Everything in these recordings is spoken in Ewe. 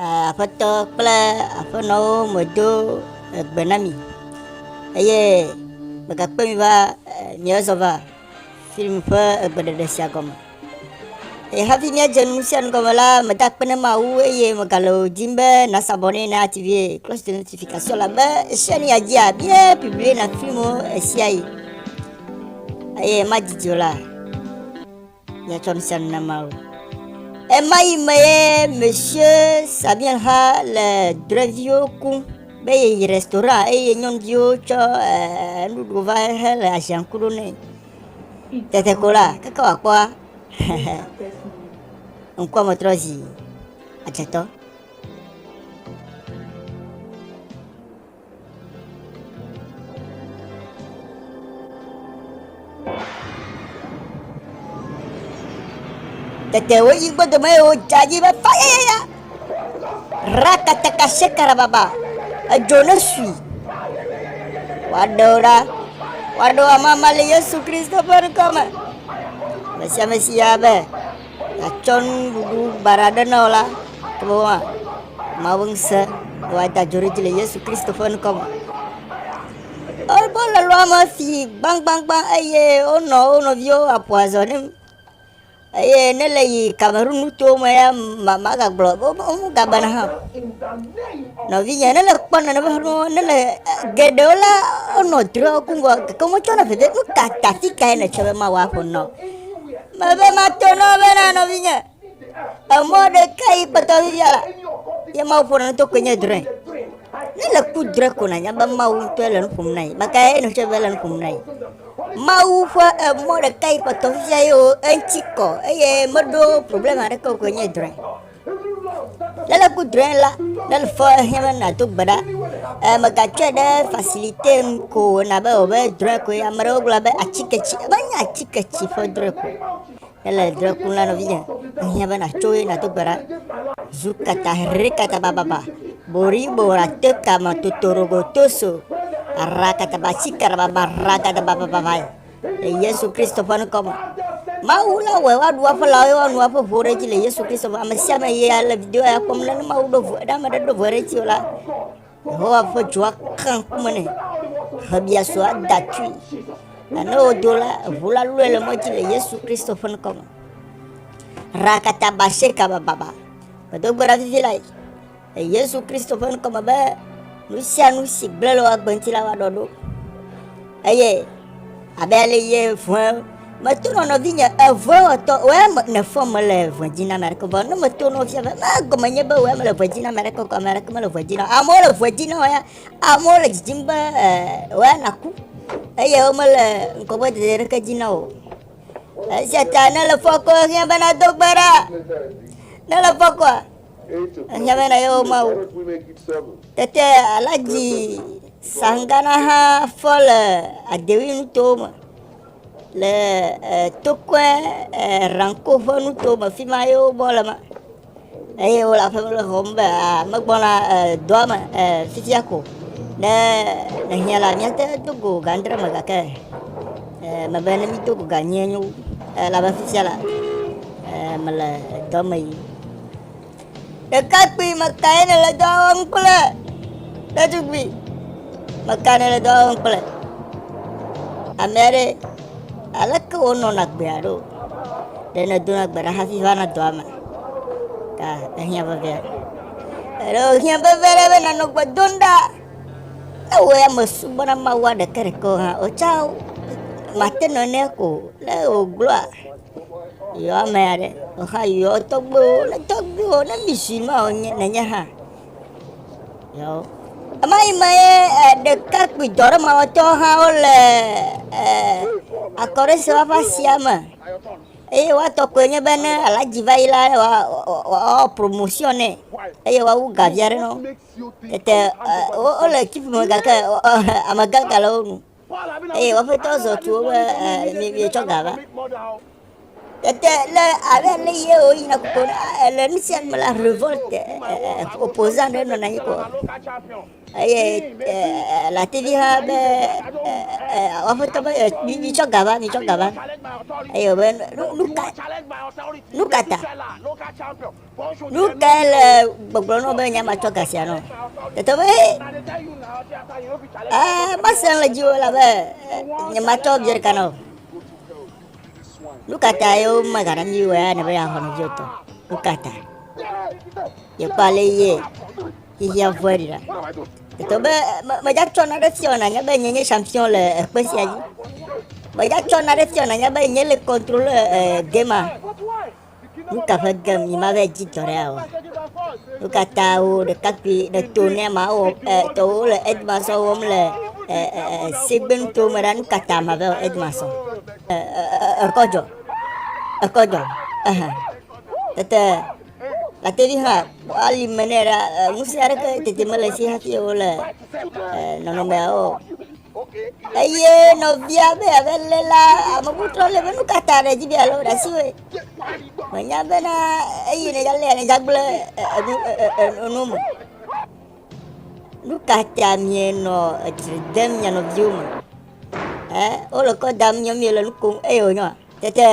Aƒetɔ kple aƒenɔwo medo egbe na mi eye megakpe mi va miazɔ va film ƒe egbeɖeɖe sia gɔme. Eye hafi míadze nu sia nu gɔme la, meda akpe ne Mawu eye megale wò dim be nasabɔ ne na active close to notification la be esia nu yadzi abie publie na filmwo esia yi eye madidi o la. Miatsɔ ŋusẽm na Mawu. Ɣemaɣi me ye Mesye Sabien xa le drɔeviwo kum be yeyi restaurant eye nyɔnuviwo tsɔ eh, nuɖuɖu va hele aziaŋku ɖo nɛ. Tete ko la, keke wòakpɔa, ŋkua me trɔ zi adzetɔ. Tete woyi gbɔdome eye wodze anyi be fayayaya. Ratataka sekarababa. Edzo ne sui. Woaɖe wo ɖa. Woaɖe wo amama le Yesu Kristo ƒe ŋkɔ me. Ame sia ame si ya be. atsɔ nuɖuɖu baɖa ɖe na wò la, ewɔ woa, Mawu ŋusẽ woada adzo ɖe edzi le Yesu Kristo ƒe ŋkɔ me. Wo le lɔa me si gbagbagba eye wonɔ wo nɔviwo aƒo azɔ ne eye ne le yi Cameroun nuto me ya magagblɔ wo gagblɔna hã o. Nɔvinye ne le kpɔ nane ƒe nuwo ne le geɖewo la wonɔ drɔgu gake wometsyɔna veve nu ka ta si kae nètsɔ be Mawu aƒo nu na wò. Mebe mato na wo bena nɔvinye, emɔ ɖeka yi kpɔtɔ fifia la, ye Mawu ƒona nu to koe nye drɔ̃e. Ne le ku drɔ̃e ko nànya be Mawu ŋutɔe le nu ƒom na yi, maka ye nèxɔ be le nu ƒom na yi. Mawu ƒe emɔ ɖeka yi kpɔtɔ fifia ye wo eŋuti kɔ eye meɖo problema aɖeke o koe nye drɔ̃e. Le le ku drɔe la, ne le fɔ ehiã be na do gbe ɖa. E me ga tsɔe ɖe facilité nu ko na be o be drɔe ko ya me ɖe o gblɔ be atike tsi e be nya atike tsi fɔ drɔe ko. Ne le drɔe ku la no vi nya. Ehiã be na tso ye na do gbe ɖa. Zu kata hre kata ba ba ba. Bori bo ra to kama to toro go to so. Ra kata ba tsi kara ba ba ra kata ba ba ba ba. le Yesu Kristo ƒe ŋkɔ me. Mawu la wɔe woaɖu eƒe lãwo eye woanu eƒe ʋuwo ɖe edzi le Yesu Kristo me. Ame sia ame yi le video ya kpɔm la, ne Mawu ɖo ʋu, ne ame aɖe ɖo ʋu ɖe edzi o la, Yehowa ƒe dzo aka ŋkume nɛ. Xebiaso ada tui. Nane wodo la, ʋu la lɔe le mɔ dzi le Yesu Kristo ƒe ŋkɔ me. Rakata basheka bababa. Medo gbe ɖa vivi lae. Le Yesu Kristo ƒe ŋkɔ me be nu sia nu si gblẽ le woagbe ŋuti la woaɖɔ ɖo. Eye abe ale ye vɔe meto nɔ nɔvinye evɔe wɔtɔ wɔe nefɔ mele vɔe dzi na ame aɖeke vɔ ne meto nɔ fia be megɔme nye be wɔe mele vɔe dzi na ame aɖeke ame aɖeke mele vɔe dzi na amewo le vɔe dzi na wɔe amewo le dzidzim be wɔe naku eye womele ŋkɔgbe dede aɖeke dzi na o esia ta ne le fɔ kɔ hiã be nado gbe ɖa ne le fɔ kɔa Enyamena yewo mawu. Tete Alaji Sangana hã fɔ le Adewi nuto me le Tokwe Ranko ƒe nuto me fi ma yewo bɔ le ma. Eye wole aƒe me xɔm be megbɔna dɔa me fifia ko. Ne ehiã la míate do go gandre me gake mebe ne mído go ganyie nyo elabe fifia la mele dɔ me yi. Ɖekakpui, meka ye nèle dɔ wɔm kple? Ɖetugbui, meka nèle dɔ wɔm kple? Ame aɖe, aleke wonɔna gbea ɖo? Ɖe nèdona gbe ɖa hafi vana dɔa me? Ta ehiã veve aɖe. Eɖe wohiã veve aɖe be nanɔ gbe dom ɖa. Ne wò ya mesubɔna Mawua ɖekeɖekewo hã, wò tsã màte nɔ nɛ ko. Ne wògblɔa, Yɔ ame aɖe, exa yɔ tɔgbuiwo, ne tɔgbuiwo, ne misi ma wònye nenye hã. Yɔ. Ema yi me ye eh, ɖekakpui dɔɖemawɔtɔwo hã wole eh, akɔɖese wafa sia me. Eye woatɔ koe nye be ne alaji va yi la, wa- wa- wa- wawɔ promotion nɛ. Eye woawu gavia ɖe nɔ. Tete eh, wo- wole tsiƒu me gake eh, amegã gale wo nu. eye wɔƒetɔ zɔ tu wo be mietsɔ ga va tete le ale ne ye wo yina koko le nu sia me la revolt opposant ɖe nɔna anyi ko eye lativi ha be wɔƒetɔ be mitsɔ ga va mitsɔ ga va eye wobe nu ka nu ka ta Nu kae le gbɔgblɔ nɔ be nya matsɔ ga sia nɔ? Tete be ee, masẽ le dziwò elabe nye matsɔ vidzĩ ɖeka nɔ. Nu ka ta ye womegana mí wɔe ne be yeaxɔ nɔvia o tɔ? Nu ka ta? Yekpɔ ale ye xexea vɔe ɖi ɖa. Tete be medzatsɔ naɖe fiɔ nanye be nye nye champion le ekpe sia dzi. Medzatsɔ naɖe fiɔ nanye be nye le contrôle eh, game Nu ka ƒe ge mimaɖe dzidzɔ ɖe o? Nu ka ta wo ɖekakpui ɖe to ne ma wo e, tɔwo le edma sɔ wɔm le e, e, e, sigbenu to me ɖa? Nu ka ta ma be edma sɔ? E, e, e, ekɔdzɔ, ekɔdzɔ, ehe. Tete latevi hã ali me nɛ ɖa, ŋusẽ aɖeke tete mele si hafi wole nɔnɔmea o. Eye nɔvia be abe le la ame bubu trɔ le be nu ka ta ɖe dzi be alo ɖe asi woe. Menya bena eyi ne yalea ne dzagble enu enu me. Nu ka ta mienɔ etsri dem mia nɔviwo me? Ɛ wole kɔ dam nyɔ miele nu kom eye wonyɔ. Tete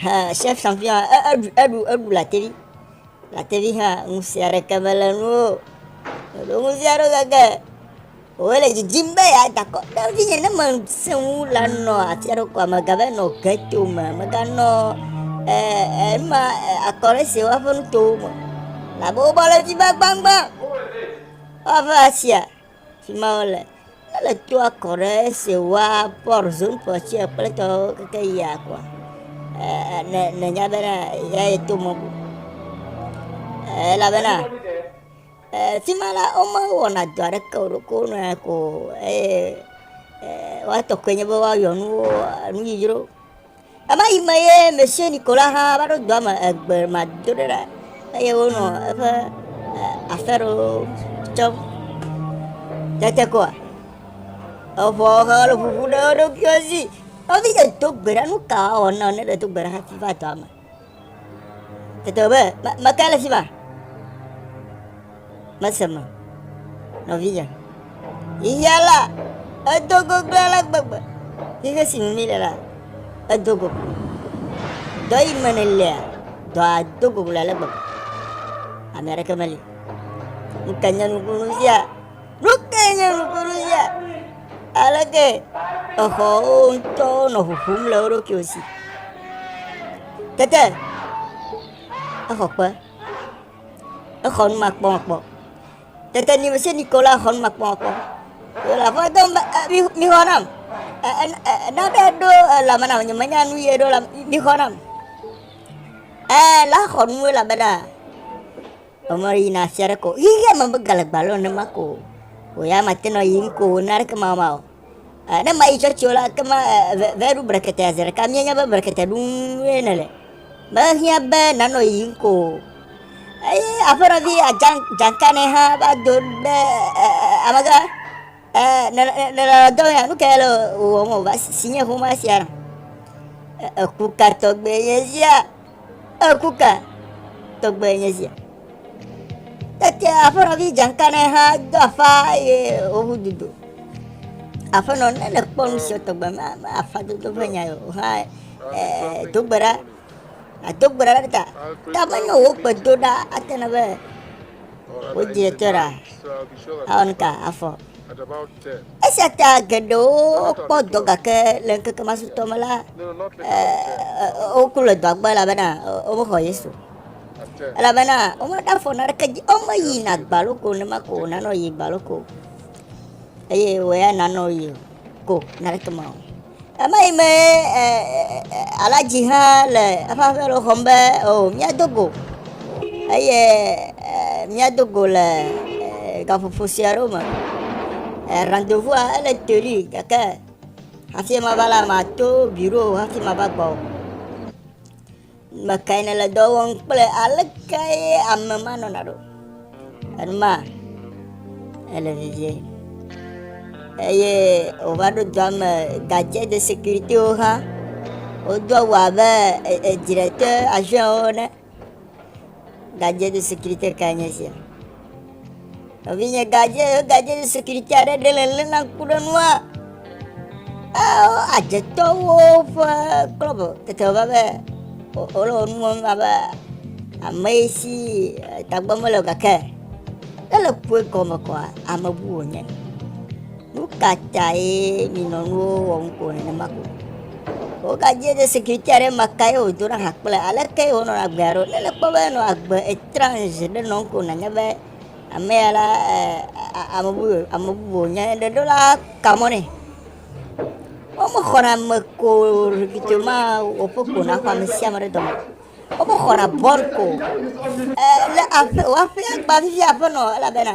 ha chef champion eɖu eɖu eɖu latevi. Latevi ha ŋusẽ aɖeke mele nuwo. Ɖo ŋusẽ aɖeke Wòle didim be yeada akɔ ɖe ŋutinye ne mesẽ ŋu la nɔ atia ɖo koa megava nɔ geto me, meganɔ ema akɔre si woaƒe nutowo me. Labe wobɔ le fi va gbangba. Woava asia fi ma wole. Ele to akɔ ɖe si woa pɔr zon pɔ tsi kple tɔwo keke yia koa. Ne ne nya bena ya yi to mɔ. Elabena. Le afi ma la, womewɔna dɔ aɖeke o, ɖeko wonɔ anyi ko eye woa tɔkɔe nye be woayɔ nuwo nu dzodzro. Ema yi me ye Monsieur Nicolas hã va ɖo dɔa me egbe ma do ɖe ɖa eye wonɔ eƒe afɛɖo tsɔm. Tete koa, eŋɔ he le ʋuʋu ɖe wo ɖokuiwo si. Nɔvi dze do gbe ɖa nu ka wɔna ne ɖe do gbe ɖa hafi va dɔa me. Tete be meka le fi ma. Mese me nɔvinye. Xexea la edo goglo ale gbegbe. Xexe si me mi le la edo goglo. Dɔ yi me ne lea dɔa do goglo ale gbegbe. Ame aɖeke meli. Ŋkanya nukunu sia. Nukee nye nukunu sia? Aleke exɔwo ŋutɔwo nɔ ʋuʋum le wo ɖokuiwo si. Tete exɔ ƒe, exɔ nu makpɔmakpɔ. Tete nye mese nu yi ke wole exɔ nu makpɔmakpɔ. Wole aƒe dem be e mi mixɔ nam. E e e nane ɖo elame nam nyemenya nu ye ɖo la mixɔ nam. E la xɔ nu elabena. Emɔ ɖe yina afi aɖeke o. Xexea me megale gbalo nenema ko o. Wò ya mate nɔ yiyim ko wò na ɖeke mawɔma o. Eh, ne mayi tsɔtsi o la, ke ma eh, ve, ve ɖu brekete aze ɖeka. Mienya be brekete ɖum ye nele. Mehiã be nanɔ yiyim ko o. Eye aƒenɔvi Ajan- Jankanɛ hã va do ɖe eh, eh, eh, amegã Eh, ne ne ne le dɔ ya nu kae le wò wɔm o va si si nye ƒomea sia na. Eh, eku ka tɔgbe nye zia? Eku ka tɔgbe nye zia? Tete aƒenɔvi dzanka ne hã do afa ye wowu dudo. Aƒenɔ ne le kpɔ nu si tɔgbe ma ma afa dodo ƒe nya o hã eh, dogbe ɖa Ado gbe ɖa ɖe ta. Ta be ne wò gbedoɖa ate na be wò dzi etsɔ ɖa. Awɔ nu ka? Afɔ. Esia ta geɖewo kpɔ dɔ gake le ŋkeke ma sutɔ me la, woku le dɔa gbe elabena womexɔ Yesu. Elabena womeɖe afɔ na ɖeke dzi, womeyi na gbalo ko ne ma ko wònanɔ yi gbalo ko. Eye wòya nanɔ yi o. Go nane tɔme o. Ema yi me alaji hã le eƒe aƒe lɔ xɔm be o oh, míado go eye míado go le gaƒoƒo sia ɖo me. Rendezvous ele teli gake hafi mava la mato biro hafi mava gbɔ o. Mekae nèle dɔ wɔm kple alekae ame ma nɔna ɖo? Enuma ele vivie eye wòva ɖo dɔa me gadze de sécuritéwo hã. Wodo awu abe e, e, edzrete aviɔnwo ene. Gadjenu sécurité kae nye sia? Nɔvinye gadje gadjenu sécurité aɖe ɖe le lé na ŋku ɖe nua. Eo adjetɔwo ƒe klɔb tete va be wole wo nuwo va be ame si tagbɔ mele o gake ele ƒue gɔme kɔa ame bu wònye. Nukatae nyinɔnuwo wɔ nuko nenema ko? Wogadzé ɖe sécurité aɖe ma kaye wòdo na hã kple aleke ye wonɔna agbea ɖo. Ne nèkpɔ be enɔ agbe étrange ɖe nɔ nuko nànya be ameya la ame bu ye ame bubu wònye. Ɖe ɖola ka mɔ̃ nɛ. Womexɔna ame ko rikicio ma wɔƒe ko naxɔ amesiame ɖe dɔme o. Womexɔna bɔɖ ko o. Lé aƒe wò aƒea gba vivi aƒenɔ elabena.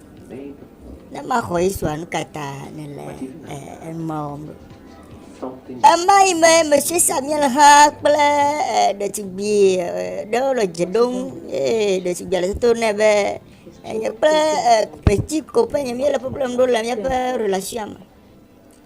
Ne maxɔ Yesua nu ka ta nele ema wɔm ɖo? Ema yi me Messie Samuel hã kple ɖetugbui ɖewo le dze ɖom eye ɖetugbui le toto nɛ be enye kple petit ko ƒe nye míele problem ɖo le míaƒe relation me.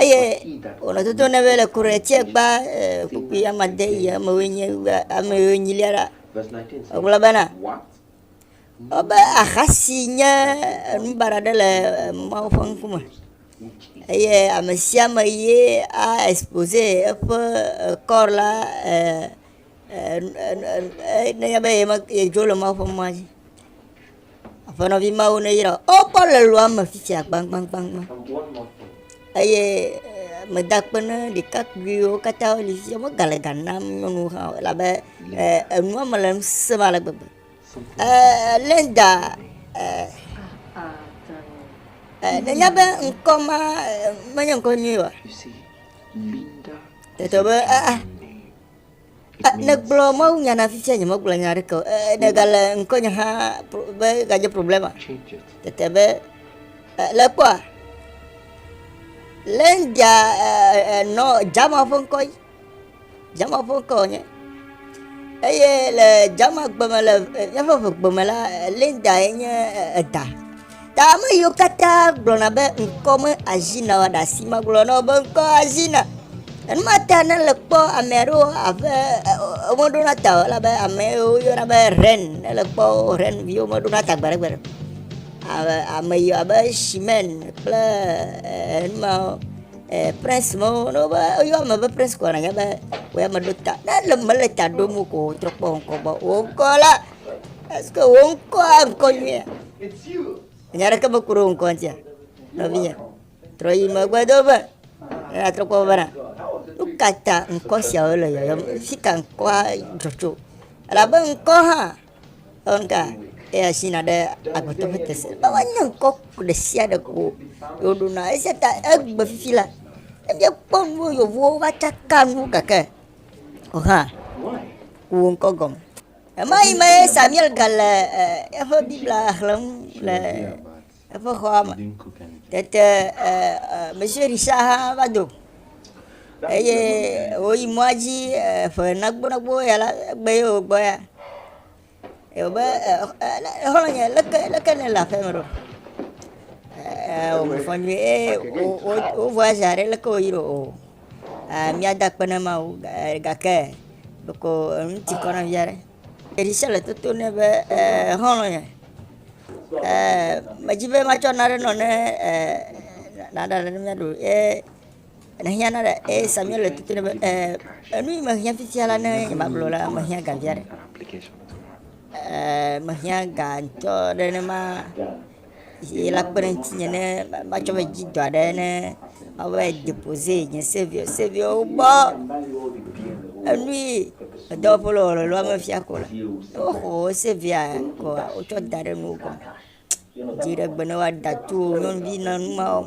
eye wòle dodom na be le ku ɖe tse gba ee kpukpui ame ade yi ame woe nye be ame yiwo nyilia ɖa. Egblɔ bena, wobe aha si nye enu baɖa aɖe le Mawu ƒe ŋkume eye ame sia ame ye a expose eƒe kɔ la ee e e e nenye be yedzo le Mawu ƒe mɔa dzi. Aƒenɔvi mawo neyra wò. Wo kpɔ le lua me fifia gbagbagba eye meda akpe ne ɖekakpuiwo katã wo li fifia. Woga le ga nam nyɔnuwo hã o elabe enua me le ŋusẽ ale gbegbe. Eee Linda eee eee nènya be ŋkɔ ma menye ŋkɔ nyui oa? Tete be aa. Nègblɔ mawunya na fifia nyemegblɔ nya aɖeke o. Nègale ŋkɔnye hã be gadze problema. Tete be le kpɔa. Le ndia nɔ jama ƒe ŋkɔ yi. Jama ƒe ŋkɔ nye. Eye le jama gbeme le míaƒe ʋegbe me la, Linda ye nye eda. Ta ame yiwo katã gblɔna be ŋkɔ me azi na wa ɖasi magblɔ na wo be ŋkɔ azi na. Enuma ta ne le kpɔ ame aɖewo abe womeɖo na ta o elabe ame yiwo yɔna be ren ne le kpɔ ren viwo meɖo na ta gbeɖegbeɖe. Ame yiwo abe shimen kple enuma eh, prince mo ne wobe yɔ ame be prince kɔ nanya be wo ya meɖo ta. Ne le mele ta ɖom ko trɔ kpɔ ŋkɔ gbɔ. Wo ŋkɔ la est-ce que wo ŋkɔa ŋkɔ nyuia? Nya ɖeke me kuro ŋkɔ ŋutia, nɔvinya. Trɔ yi megbe do be, eya trɔ kpɔ bena, nu ka ta ŋkɔ siawo le yɔyɔm? Fi ka ŋkɔa dzɔ tso? Elabe ŋkɔ hã, ŋka, eya si na ɖe agbetɔ ƒe tese. Be woanye ŋkɔ ɖe sia ɖe ko woɖo na. Esia ta egbe fifi la, ne míekpɔ nuwo yevuwo va tsaka nu gake, o hã, ku wo ŋkɔ gɔme. Ɣemaɣi mee Samuel gale eƒe Biblia xlẽm le eƒe xɔa me. Tete Monsieur Richard hã va do eye wòyi mɔa dzi ƒe nagbonagbo ya la, egbe ye wògbɔ ya. Ye wòbe, xɔlɔ̃nye, leke, leke nèle aƒeme ɖo? Wòme fɔ nyuie, ee, wo, wo, wo voyage aɖe, leke wòyi ɖo? míada akpe na Mawu gake ɖeko nu ti kɔ na vi aɖe. Ɖevi sia le toto nɛ be xɔlɔ̃ ye. Medi be matsɔ nane nɔ ne naɖa nane miaɖu o ye nèhiã na ɖe eye Samuel le toto nɛ be enu yi mehiã fifia la ne nye magblɔ la mehiã ga vi aɖe. Mehiã ga ŋutɔ nenema. si la kpe ɖe ŋutinye ne matsɔ ƒe dzidɔ aɖe ne mabe depoze nye seviwo seviwo gbɔ enui edɔ ƒe lɔlɔ̃a mefia ko la ne woxɔ wò sevia koa wotsɔ da ɖe nuwo gɔme. Dziɖegbe ne woada tu wò nyɔnuvi na nu ma wɔm.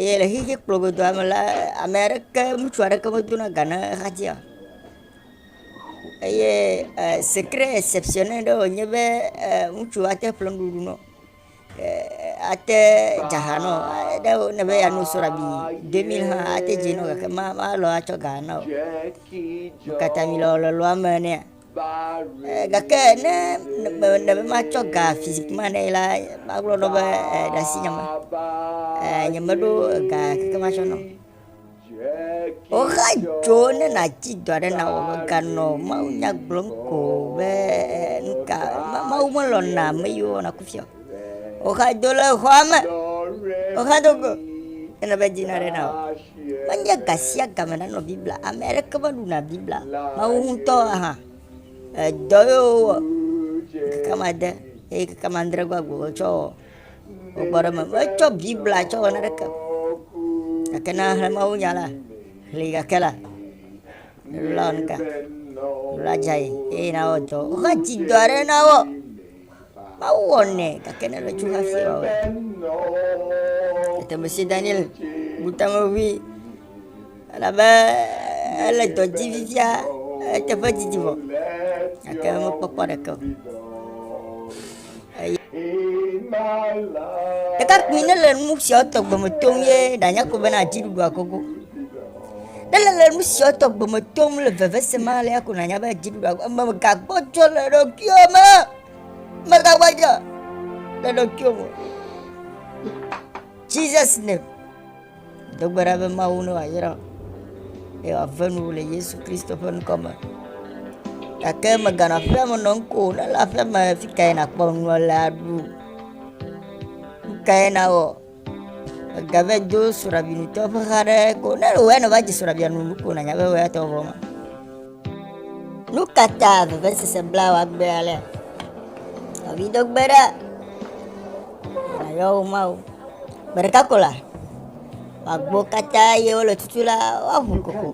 Eye le xexi kplɔ godoa me la, ame aɖeke, ŋutsu aɖeke medona ga ne xexi ya o. Eye secret exceptionnel ɖe wònye be ŋutsu ate ƒle nuɖuɖu nɔ, ate dza ha nɔ, ne wòle be yeano soɖa bi deux mille hã ate dzi nɔ gake ma ma alɔ̃ atsɔ ga ana o. Wo katã mí lɔ̃ le lɔ̃ame nɛ. Gake ne mele be matsɔ ga physique ma ne ye la, magblɔ nɔ be ɖe asi nye me. Nyemeɖo ga keke matsɔ nɛ o. Woxa dzo ne nàtsi do aɖe na wò meganɔ mawunya gblɔm ko be nuka Mawu melɔ̃na ame yiwo wɔna kufia o. Woxa dzo le xɔa me, woxa dzo go ele be dzi naɖe na wò. Menye ga sia ga me nanɔ Biblia, ame aɖeke meɖuna Biblia o. Woawo ŋutɔ hã, edɔ ye wowɔ ŋkeke woame ade eye ŋkeke woame adre gbagbe wotsɔ wɔ gbɔgbɔ ɖe eme. Metsɔ Biblia tsɔ wɔ naneke o gake ne ahlẽ mawunya la, ʋli gake la, ʋli la wɔ nu ka? Ʋli la dze anyi eye nawɔ dɔ. Wova dzi dɔ aɖe na wo. Mawu wɔ nɛ, gake ne nètso hafi awɔe. Tete mesi Daniel bu ta me ʋui, elabe ele dɔ dzi fifia, eteƒe didi vɔ, gake mekpɔkpɔ ɖeke o. Eye ɖekakpui ne le nu siawo tɔgbe me tom ye ɖanya ko bena adziɖuɖua gogo. Ne nèle nu siawo tɔgbe me tom le veveseme alea ko nànya be dziɖuɖua gbɔ. Mègagbɔdzɔ le ɖokuiwò me. Mègagbɔdzɔ le ɖokuiwò me. Jesus name. Do gbe ɖa be Mawu ne wòayra wò eye wòave nu wò le Yesu Kristo ƒe ŋkɔ me. Gake mèganɔ aƒea me nɔm ko o. Ne le aƒea me fi kae nàkpɔ nua le aɖu? Nu kae nawɔ? Egave do srɔ̃ɖabiɖitɔ ƒe xa ɖe ko ne wòe ne va dzi srɔ̃ɖabia nu ko nanya be wòe atɔ vɔ ma. Nu ka ta vevesese bla wa gbe alea? Avi do gbe ɖa. Ayɔ wo ma wo. Gbe ɖeka ko la. Agbo katã ye wole tutu la woaʋu koko.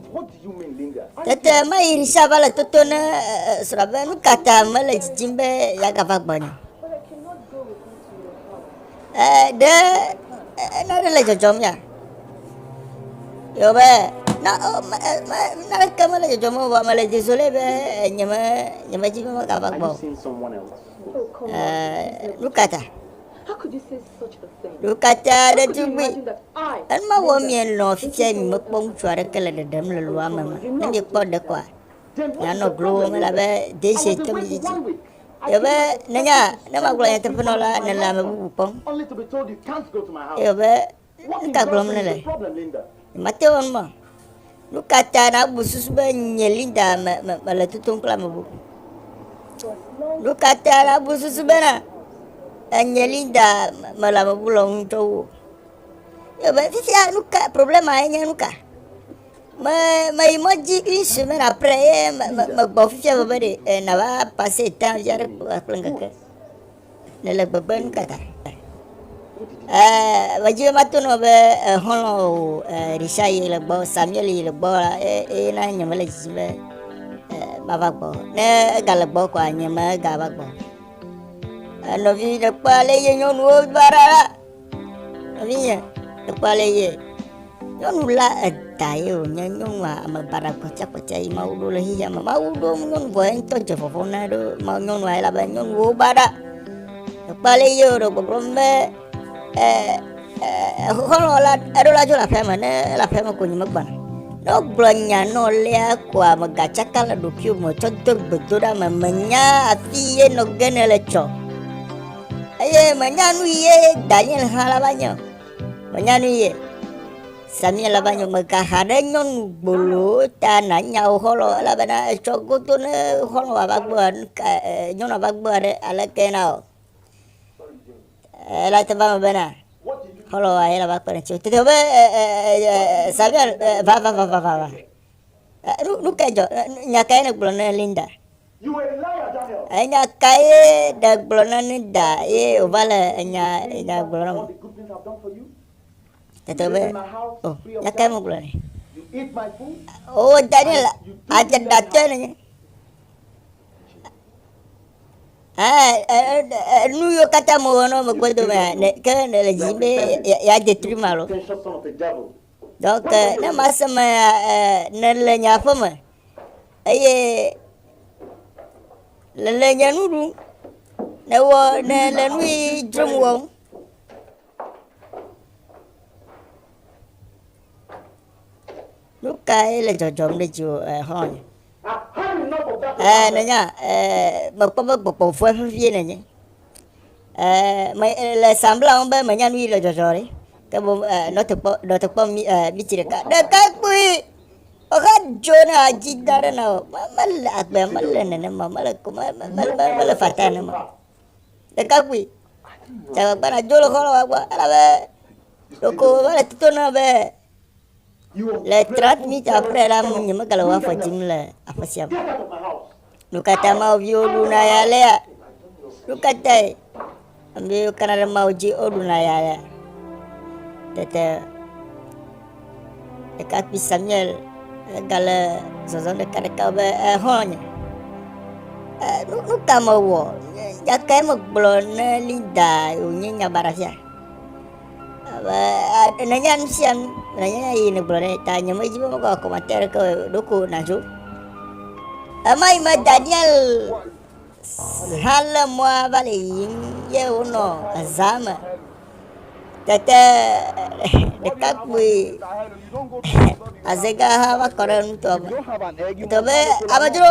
Tete ma yi Risa va le toto ne srɔ̃ɖabia nu ka ta mele dzidzim be yeagava gbɔnye. ɖe nane le dzɔdzɔm ya? Yewɔbe, na o me e me naneke mele dzɔdzɔm o vɔa mele désolé be nyeme nyemedi be megava gbɔ o. Ɛɛ, nu ka ta? Ɖekata ɖetugbui, enu ma wɔm mienɔ fifia miemekpɔ ŋutsu aɖeke le ɖeɖem le loa me me. Ne miekpɔ ɖe koa, mianɔ glowòm elabe dese to mi didi. Yɔbe, Nènya, ne magblɔ nyateƒe nɔ la, nèle ame bubu kpɔm. Yɔbe, Nu ka gblɔm nèle? Mate ŋu ma. Nu ka ta nàbu susu be nye Linda me, me, mele totom kple ame bubu? Nu ka ta nàbu susu bena enye Linda mele ame bubu lɔm ŋutɔ wu? Yɔbe, fifia nu ka, problema enye nu ka? Me meyi mɔ dzi une semaine après ye me me megbɔ fifia veve ɖe e nava passer temps via ɖe kple ŋkeke. Nele gbegbe nu ka ta? Eh, medzi be mato nɔ be exɔlɔ o eh, Richard yi le gbɔ, Samuel yi le gbɔ la eye na nye mele dzidzi be eh, mava gbɔ. Ne ega le gbɔ kɔa nye mega va gbɔ. Enɔvi ɖe kpɔ ale ye nyɔnuwo va ɖa la. Nɔvinye, ekpɔ ale ye. Nyɔnu la eda ye wònye nyɔnua ame baɖa kpɔtsakpɔtsa yi Mawu ɖo le xexea me. Mawu ɖo nyɔnu vɔ ye ŋutɔ dze vɔvɔ na ɖo ma nyɔnua ye labe nyɔnuwo baɖa. Ekpɔ ale ye wòɖe gbɔgblɔ be xɔlɔ la eɖo la dzo le aƒea me ne ele aƒea me ko nyi megbana. Ne wogblɔ nya na wo lea koa megatsaka le ɖokuiwò me tsɔ do gbedoɖa me menya afi ye nɔ ge ne le tsɔ. Eye menya nu ye Daniel hã la va nye o. Menya nu ye Samia la va nye mega ha ɖe nyɔnu gbolo ta na nya o xɔlɔ elabena etsɔ godo ne xɔlɔ wa va gbɔ nyɔnu va gbɔ ɖe aleke na o. Ela te va me bena xɔlɔ wa ye la va kpe ɖe tso. Tete be Samia va va va va va. Nu kae dzɔ? Nya kae nègblɔ na Linda? Enya kae nègblɔ na Linda ye wòva le enya nya gblɔ na me? Tete be, o, nya kae megblɔ nɛ? O, Daniel, adze ɖatɔe le nye. Nu yiwo katã mewɔ na wo megbe dome ke nèle dzi be yeadze tri ma lo. Donc ne mase me nèle nye aƒe me eye nèle nye nu ɖum, nèwɔ nèle nu yi dzrom wɔm. Nukae le dzɔdzɔm ɖe dziwò exlɔ̃nye? Ɛɛ, nènya, ɛɛ, mekpɔ be gbɔgbɔvɔe vevie nènye. Ɛɛ, me, le sambla ŋu be menya nu yi le dzɔdzɔ ɖe. Ke boŋ, ɛɛ, nɔtekpɔ, nɔtekpɔ mi, ɛɛ, mitsi ɖeka. Ɖekakpui! Exa dzo ne adzi da ɖe na o. Me- Mele agbea, mele nenema, mele ko, me- me- me- me- mele fataa nenema o. Ɖekakpui, dze agbagba nàdzo le xɔlɔ̃wòa gbɔ elabe ɖeko mele to na be Le transmitter ƒe la ŋu nyemegale wɔ afɔ dim le aƒe sia me. Nu ka ta Mawu viwo ɖuna ya alea? Nu ka tae ame yiwo kana ɖe Mawu dzi woɖuna ya alea? Tete ɖekakpui Samuel egale zɔzɔm ɖekaɖeka be exɔlɔ̃nye. Eh, nu nu ka mewɔ? Gake megblɔ ne Linda wònye nyabaɖafia. Nènya nu sia nu, nènya eye nègblɔ ɖe ta nyemedzi be mekɔ akɔmate aɖeke o, ɖoko nàdzo. Ema yi me Daniel hã lé mɔa va le yiyim ye wonɔ ezaa me. Tete ɖekakpui azegã hã va kɔ ɖe nutɔ me. Tɔ be amedzro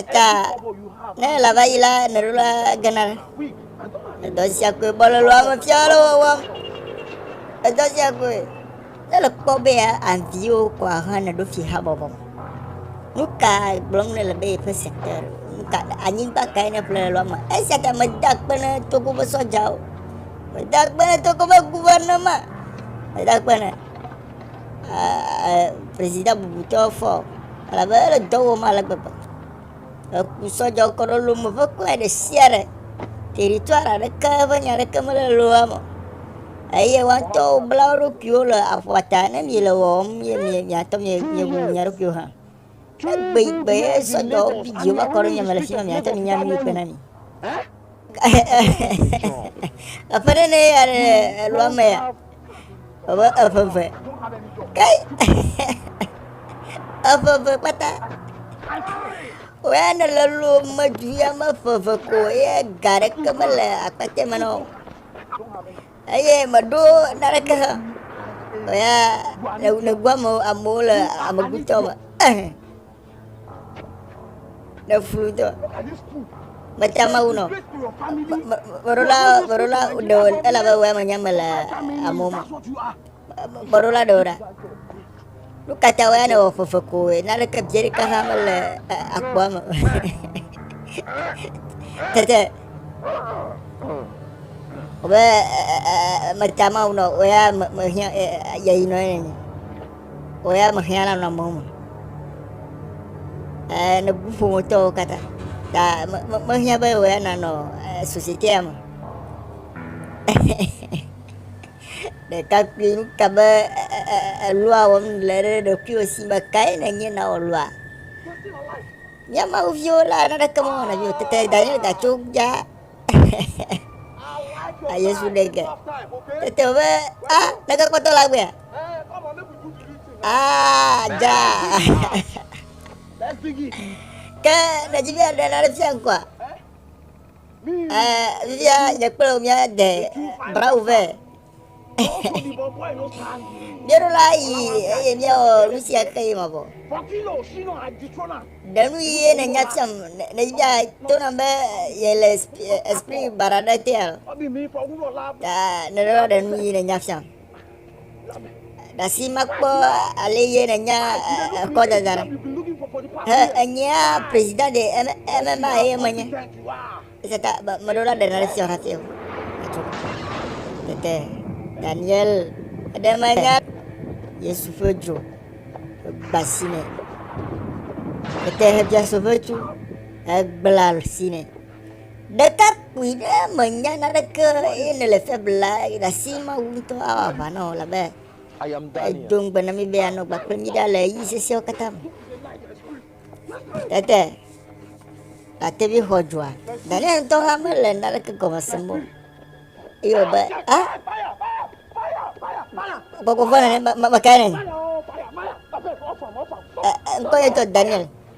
Eka ne ele va yi la meɖola gena edɔ sia koe bɔlɔlɔ ame fiala wɔwɔ edɔ sia koe ne le kpɔ be ya anviwo kɔ ahã ne ɖo fi habɔbɔ me nu ka gblɔm ne le be yeƒe secteur nu ka anyigba kae ne ƒle lɔ me esia ta mede akpe ne togo ƒe sɔdzawo mede akpe ne togo ƒe guvernema mede akpe ne president bubutɔ fɔ o elabe ele dɔ wɔm ale gbegbe. Eku sɔ dzɔ kɔ ɖe lome ƒe kple ɖe sia ɖe. Territoire aɖeke ƒe nya aɖeke mele loa me o. Eye woa ŋutɔwo bla wo ɖokuiwo le aƒua ta. Ne miele wɔwɔm ye miatɔ miebu mia ɖokuiwo hã. Egbegbe sɔ dɔ video va kɔ ɖe nya me le fi ma miate ŋu nya nu yi ke na mi. Eƒe ɖe ne ya ɖe elua me ya. Ebe eƒe ve. Kai. Eƒe ve kpata. Wea ne le lu medu ya me ƒe ve ko ye ga ɖeke mele akpate me na o. Eye meɖo naneke hã o ya le nègbu ame amewo le amegutɔ me ehe le fulutɔ mete mawu nɔ meɖola meɖola ɖe elabe wɔ ame nya me le amewo me Kpɔɖola ɖewo ɖa, nu ka ta woyɔnɛ wɔ fefe koe? Naneke biẽ ɖeka hã mele akpoa me. Tete be meta mawu nɔ o ya mehiã yeyi nɔ ye nenye o ya mehiã la nɔ amewo me ne bu ƒometɔwo katã ta mehiã be o ya nanɔ société ya me Ɖekakpui, nu ka be èlɔa wɔm le ɖe ɖokuiwò si be kae nènye na wò lɔa? Mía Mawu viwo la, naneke mewɔ na viwò tete danye datso dza. A Yesu ɖe ge. Tete be, a neke kpɔtɔ la gbea? A dza. Ke nèdzi be aɖe nane fia ŋkɔa? Eh, vivia nye kple wò míade brau vɛ. Míeɖo la yi eye míawɔ nu sia xe yi mavɔ. Ɖe nu ye nènya tiam ne- nèbia to nam be yele esp- eh, esprit baɖa ɖe tea? Ta nèɖo la ɖe nu ye nènya fiam. Gasi mekpɔ ale ye ne nya ekɔ dada no. He enyea prezida de eme eme ma ye me nye. Ese ta be me ɖo la ɖe na ɖe sia hati o. Tete Daniel ɖe me nya Yesu ƒe dzo gbasi ne. Tete he bia so ƒe tu egbla si ne. Ɖekakpui ɖe mènya naneke o eye nèle fia be la, ɖasi Mawu ŋutɔ awɔ aʋa na wò elabe edo ŋugbe na mí be yeanɔ agbe kple mí ɖa le ɣeyiɣi sesẽwo katã me. Tete Latevi xɔ dzoa. Daniel ŋutɔ hã mele naneke gɔme sem o eye wòbe, a gbɔgbɔ vɔ̃ nene me- me- mekae nènye? Ɛ- ɛ, ŋkɔ nye ŋutɔ Daniel.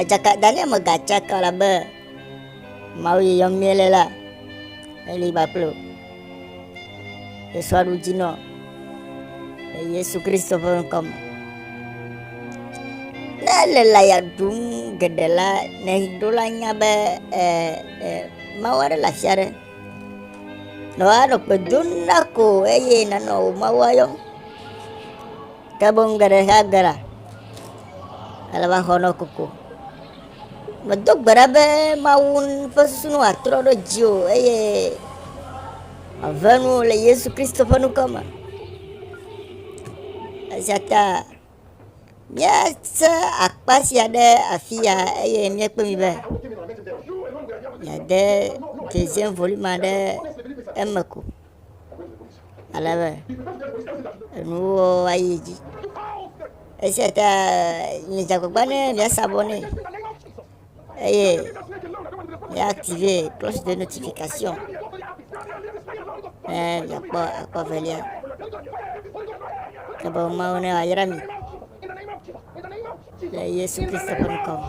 Edzaka Daniel me gatsa ka la be Mawu yi yɔm miele la eli kpakple o. Yesu aɖu dzi nɔ le Yesu Kristo ƒe ŋkɔ me. Ne ele la ya ɖum geɖe la, ne ɖo la nya be e, e, Mawu aɖe le afi aɖe. Nɔ anɔ kpe dom na ko eye nanɔ wò Mawu ayɔm. Ke boŋ geɖe hea gbe ɖa ale be axɔ nɔ koko. Medo gbe ɖa be Mawu ƒe susu nu wòatrɔ ɖe dziwò eye wòave nuwò le Yesu Kristo ƒe ŋkɔ me. Esia ta míese akpa sia ɖe afi ya eye míekpe mi be miade dzedzem ʋolime aɖe eme ko. ale be enuwo ayi edzi. Esia ta midze agbagba ne miasa vɔ nɛ eye miaktive cloche de notification ne miakpɔ akɔ velia. Ke boŋ Mawu nayra mi. Le Yesu Kristo ƒe ŋkɔ me.